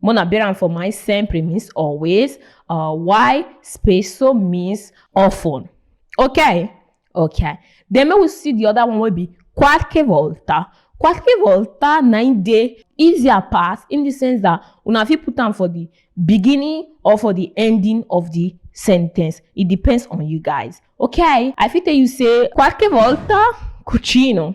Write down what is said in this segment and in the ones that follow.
Mona bear am for mind sempre means always. Uh, why space so means often. Okay, okay. Then we will see the other one will be qualche volta. Qualche volta na im dey easier pass in the sense that una fit put am for the beginning or for the ending of the sentence. It depends on you guys. Okay, I fit tell you say qualche volta cucino.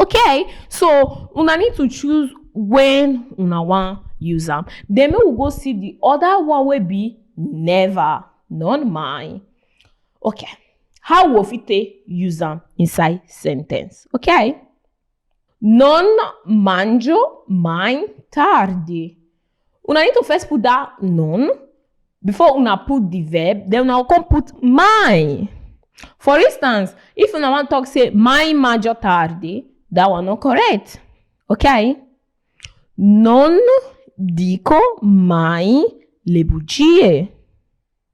okay so una need to choose when una wan use am then make we go see the other one wey be never not mine okay how we fit take use am inside sentence okay non mangio mai tardi Una need to first put that noun before una put the verb, then una come put my. For instance, if una wan talk say my major tarde, that one no correct. Okay? Non dico mai le bugie.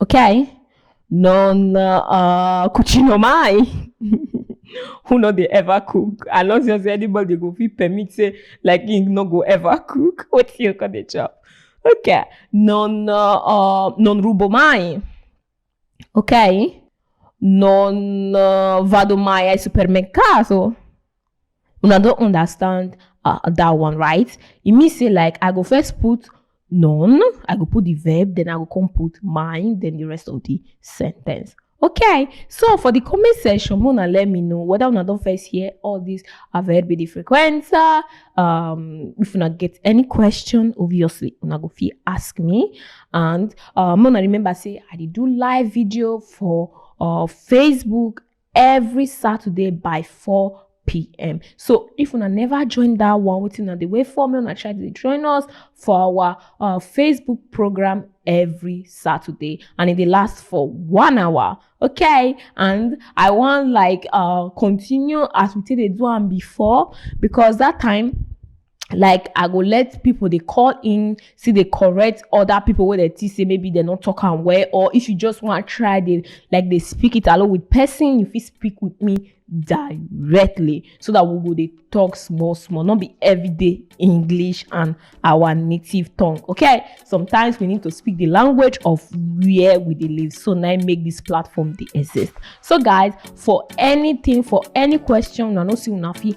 ok? Non uh, cucino mai. Who no dey ever cook? I no just say anybody go fit permit say like him no go ever cook. Wetin you come dey chop? Ok, non uh, uh, non rubo mai. Ok? Non uh, vado mai al supermercato. una don understand uh, that one right e mean say like i go first put none i go put the verb then i go come put mine then the rest of the sentence okay so for the comment section una let me know whether una don first hear all this verb be the frequenza um if una get any question obviously una go fit ask me and um una remember say i dey do live video for uh, facebook every saturday by 4pm so if una never join that one wetin una dey wait for make una try to dey join us for our uh, facebook program every saturday and e dey last for one hour okay and i wan like uh, continue as we take dey do am before because that time like i go let people dey call in still dey correct other people wey dey think say maybe dem no talk am well or if you just wan try dey like dey speak it alone with person you fit speak with me directly so that we go dey talk small small no be everyday english and our native tongue okay sometimes we need to speak the language of where we dey live so na im make this platform dey exist so guys for anything for any question una no see una fit